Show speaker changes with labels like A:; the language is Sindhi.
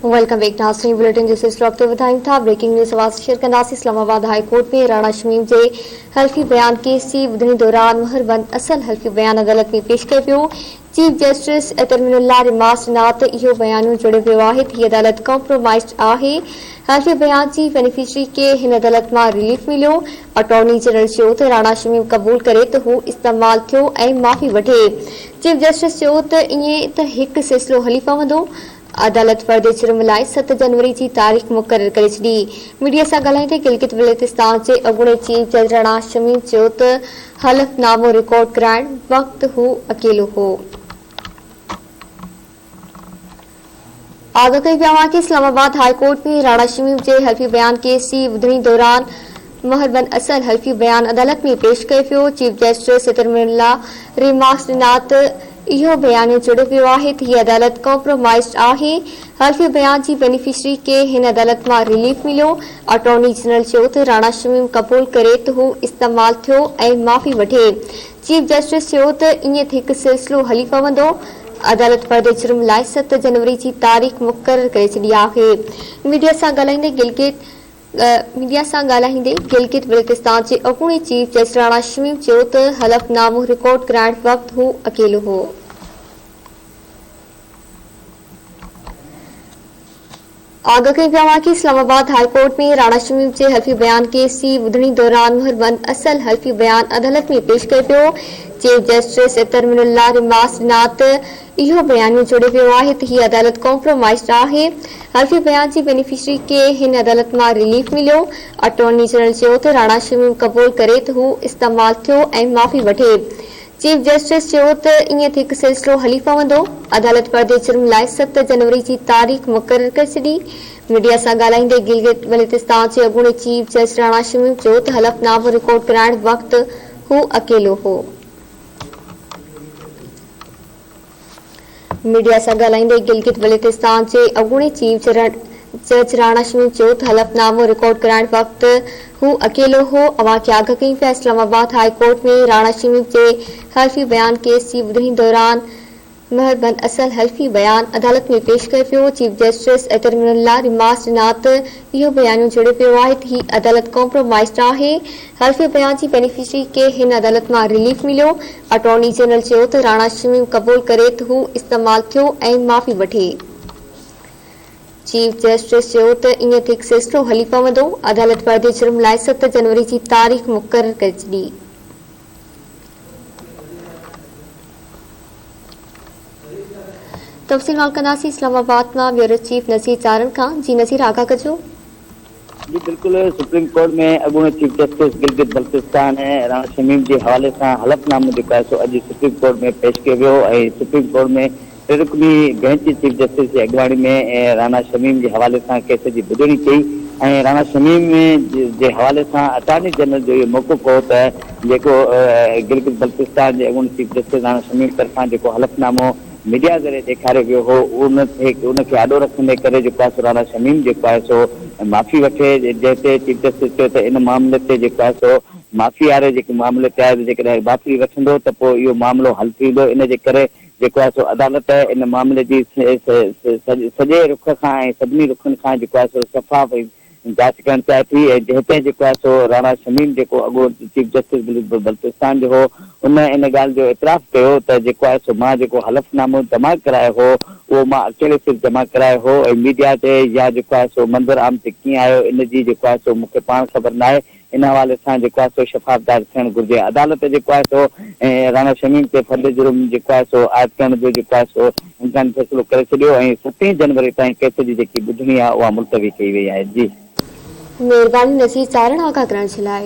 A: ويلڪم بيڪ ناظرين بليٽن جي سلسلو اڳتي وڌايون ٿا بريڪنگ نيوز اوهان سان شيئر ڪنداسين اسلام آباد هاء ڪورٽ ۾ راڻا شميم جي حلفي بيان ڪيس جي ٻڌڻي دوران مهر بند اصل حلفي بيان عدالت ۾ پيش ڪيو ويو چيف جسٽس ترمين الله رماس ڏنا ته اهو بيانيو جوڙيو ويو آهي ته هي عدالت ڪمپرومائزڊ آهي حلفي بيان جي بينيفشري کي هن عدالت مان رليف مليو اٽارني جنرل چيو ته راڻا شميم قبول ڪري ته هو استعمال ٿيو ۽ معافي وٺي. چيف جسٽس چيو ته ائين ته هڪ سلسلو هلي پوندو. عدالت فرد جرم لاء ست جنوري جي تاريخ مقرر ڪري ڇڏي. ميڊيا سان ڳالهائيندي گلگت بلتستان جي اڳوڻي چيف جج راڻا شميم چيو ته حلف نامو رڪارڊ ڪرائڻ وقت هو اڪيلو هو. آگاهه ڪيو ويو آهي ته اسلام آباد هاء ڪورٽ ۾ راڻا شميم جي حلفي بيان ڪيسي ٻڌڻي دوران مهر بن اصل حلفي بيان عدالت ۾ پيش ڪيو ويو، چيف جسٽس سترملا ريمارڪس ڏنا ته اهو بيانيو جڙيو ويو آهي ته هيء عدالت ڪمپرومائيزڊ آهي، حلفي بيان جي بينيفشري کي هن عدالت مان رليف مليو، اٽارني جنرل چيو ته راڻا شميم قبول ڪري ته هو استعمال ٿيو ۽ معافي وٺي. چيف جسٽس چيو ته ائين ٿي هڪ سلسلو هلي پوندو، عدالت پنهنجي جرم لاء ست جنوري جي تاريخ مقرر ڪري ڇڏي آهي. ميڊيا سان ڳالهائيندي گلگت ميڊيا سان ڳالهائيندي گلگت بلتستان جي اڳوڻي چيف جج راڻا شميم چيو ته حلف نامو رڪارڊ ڪرائڻ وقت هو اڪيلو هو. آگاهه ڪيو ويو آهي ته اسلام آباد هاء ڪورٽ ۾ راڻا شميم جي حلفي بيان ڪيس جي ٻڌڻي دوران مهربند اصل حلفي بيان عدالت ۾ پيش ڪيو پيو chief justice Athar Minallah remarks ڏنا ته اهو بيانيو جوڙيو ويو آهي ته هي عدالت ڪامپرومائيزڊ آهي حلفي بيان جي بينيفشري کي هن عدالت مان رليف مليو اٽارني جنرل چيو ته راڻا شميم قبول ڪري ته هو استعمال ٿيو ۽ معافي وٺي چيف جسٽس چيو ته ائين ٿي هڪ سلسلو هلي پوندو، عدالت پرڏيهي چرن لاء ست جنوري جي تاريخ مقرر ڪري ڇڏي. ميڊيا سان ڳالهائيندي گلگت بلتستان جي اڳوڻي چيف جسٽس راڻا شميم چيو ته حلف نامو رڪارڊ ڪرائڻ وقت هو اڪيلو هو. ميڊيا سان ڳالهائيندي گلگت بلتستان جي اڳوڻي چيف جج راڻا شميم چيو ته حلف نامو رڪارڊ ڪرائڻ وقت هو اڪيلو هو، اوهان کي آگاهه ڪيم پيا، اسلام آباد هاء ڪورٽ ۾ راڻا شميم جي حلفي بيان ڪيس جي ٻڌڻي دوران مهر بند اصل حلفي بيان عدالت ۾ پيش ڪيو پيو، چيف جسٽس ايترمن الله ريمارڪس ڏنا ته اهو بيانيو جڙي پيو آهي ته هي عدالت ڪامپرومائيز ناهي، حلفي بيان جي بينيفشري کي هن عدالت مان رليف مليو، اٽارني جنرل چيو ته راڻا شميم قبول ڪري ته هو استعمال ٿيو ۽ معافي وٺي. چيف جسٽس چيو ته ايئن ٿڪ سلسلو هلي پوندو، عدالت پرڏيهي جرم لاء ست جنوري جي تاريخ مقرر ڪري ڇڏي. تفصيل مان ڪنداسين اسلام آباد مان بيورو چيف نذير تارڙ کان جي نذير آگاهه ڪجو. جي
B: بلڪل سپريم ڪورٽ ۾ اڳوڻي چيف جسٽس گلگت بلتستان ۽ راڻا شميم جي حوالي سان حلف نامو جيڪو آهي سو اڄ سپريم ڪورٽ ۾ پيش ڪيو ويو ۽ سپريم ڪورٽ ۾ ٽي رڪني بئنچ چيف جسٽس جي اڳواڻي ۾ رانا شميم جي حوالي سان ڪيس جي ٻڌڻي ڪئي ۽ رانا شميم جي حوالي سان اٽارني جنرل جو اهو موقف هو ته جيڪو گلگت بلتستان جي اڳوڻي چيف جسٽس رانا شميم طرفان جيڪو حلف نامو ميڊيا ذريعي ڏيکاريو ويو هو ان ان کي آڏو رکندي ڪري جيڪو آهي سو راڻا شميم جيڪو آهي سو معافي وٺي جنهن تي چيف جسٽس چيو ته ان معاملي تي جيڪو آهي سو معافي واري جيڪي معاملي تي آهي جيڪڏهن معافي وٺندو ته پوء اهو معاملو حل ٿي ويندو ان جي ڪري جيڪو آهي سو عدالت ان معاملي جي سڄي رخ کان ۽ سڀني رخن کان جيڪو آهي سو شفاف ۽ جاچ ڪرڻ چاهي ٿي ۽ هتي جيڪو آهي سو راڻا شميم جيڪو اڳو چيف جسٽس بلتستان جو هو ان ان ڳالهه جو اعتراف ڪيو ته جيڪو آهي سو مان جيڪو حلف نامو جمع ڪرايو هو اهو مان اڪيلي صرف جمع ڪرايو هو ۽ ميڊيا تي يا جيڪو آهي سو منظر عام تي ڪيئن آيو ان جي جيڪو آهي سو مون کي پاڻ خبر ناهي ان حوالي سان جيڪو آهي سو شفافدار ٿيڻ گهرجي. عدالت جيڪو آهي سو راڻا شميم تي فرد جرم جيڪو آهي سو عائد ڪرڻ جو جيڪو آهي سو امڪاني فيصلو ڪري ڇڏيو ۽ ستين جنوري تائين ڪيس جي جيڪي ٻڌڻي آهي اها ملتوي
A: ڪئي
B: وئي آهي.
A: جي.
B: مھرباني نصير چارڻ
A: آگاھ
B: ڪرڻ جي
A: لاء.